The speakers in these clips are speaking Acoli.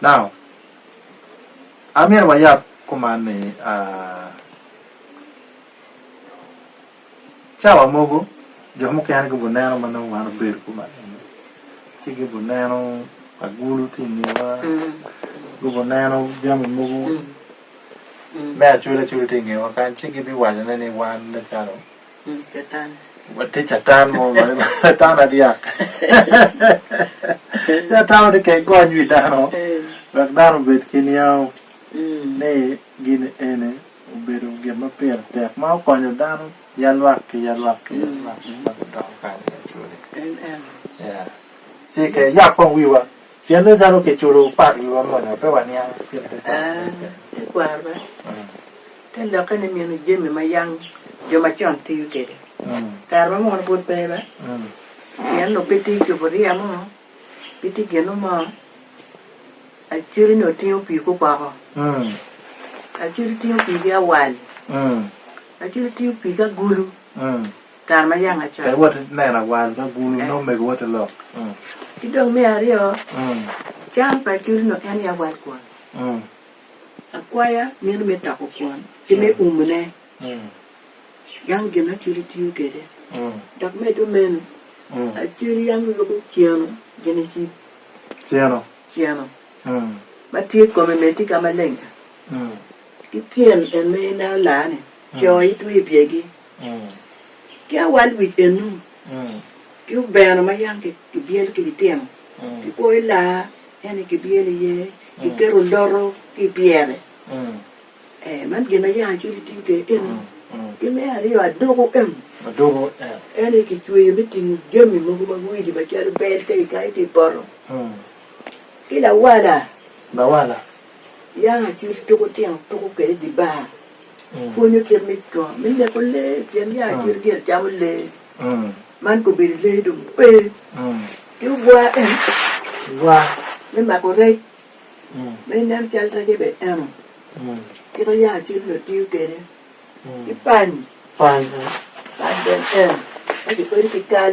Now, an myero wayab kuman ni aa, cawa mogo jo mukene gibuneno ma nongo wan obedo kuman eni, ci gibuneno agulu tye i ngewa, gubuneno jami mogo me acwele acwele tye i ngewa kany ci gibiwacone ni wan me calo Catan. Watye catan mo ma catan adyak. Catan watye kek gony wi dano wek dano obed ki niango ni gin eni obedo gin ma pire tek ma okonyo dano ya lwak ki ya lwak ki ya lwak ma gudoko kany i lacwode. Ci kiyab kong wiwa. Pien ni calo kiculo pak i wa moni, pe waniang gin tekwaro. Tekwarwa te lokke ni mino jami ma yang jo macon tiyo kwede. Kare ma mono pud pe ba, pien onongo pe tye cuburiya mo, pe tye gino mo, acidi ni otingo pii guboko, acidi tingo pii ki awal, acidi tingo pii ki agulu. kare ma yanga cok. Kadi woti neno awal ka gulu nongo omego woti lok. Ki dong me aryo, cam pa acolino en aye awal kwon. Akwaya meno me toko kwon ki me umone yam gin acoli tiyo kwede. Dok medo meno, acoli yam yubo ceno gin ecibo, ceno ma tye i kome me tika maleng-ca ki tyen en ma en aye olar-ni, co itwe i byegi. ki awal wic eno, ki obeno ma yam kibyelo ki litino, ki kwoyo laa, en aye kibyelo iye, kiketo loto ki i pyere. Ee, man gin ma yam acwiny gitiyo kwede eno. Ki me aryo, aduku eno, en aye kicweyo me tingo jami mogo ma widi macalo bel ka ikayo ki i poto, ki lawala. Yako acuc tuko tino tuko kwede dye bar. Pwonyo kit me co me neko lee pien yako acuc gire camo lee. Man kobedo lee dong pe. Ki obwa bene, obwa me mako rec ma inen cal recce bene eno kite yako acuc onongo tiyo kwede. Ki pany, pany bene eno ma kikwedo ki kal.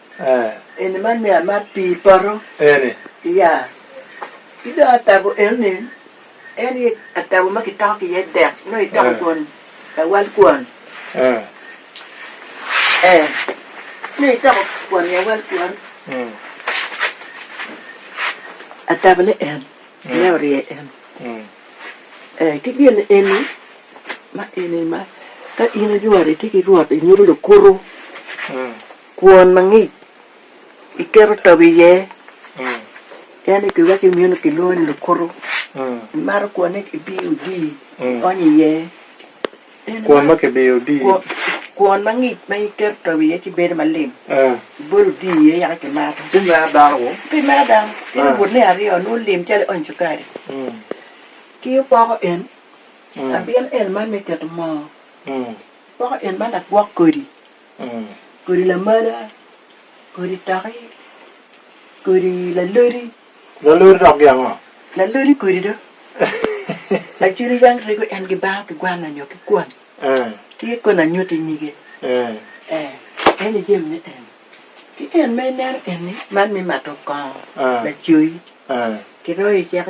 Eni man ni amat pii poto eni. Iya. Ki dong atabo eno ni en aye atabo ma kitoko ki iye dek nongo itoko kwon lawal kwon. Ee, nongo itoko kwon lawal kwon. Atabo ne en me orye en. Ee, ki gin eni ma eni ma ka in iyworo itye ki rwot inyuto lukuto. Kwon ma ngic iketo togo iye, en aye pi wacci imiyo onongo kilwongo ni lukuto. Imato kwonne kibiyo odii, ionyo iye. En Kwon ma kibiyo odii. Kwon, kwon ma ngic ma iketo togo iye ci bedo malim. Ah, Ibolo odii iye yaka kimato. pi mera dano-gu. Pi mera dano, in Ah. obutne aryo, nongo lim calo ionyo cukari. Mm, Ki opoko en, mm, abino en man me keto moo, mm. poko en man agwok kodi. kodi lamala, kodi toki, kodi lalodi. Lalodi dok gin ango? Lalodi kodi do. Lacwiny yam rego en ki banga ki gwanna nyo ki kwon. Ki i kona nyuti nyige. En i jami me en. Ki en ma ineno eni, man me mato kongo, lacoyi. Kiroyo i ceke.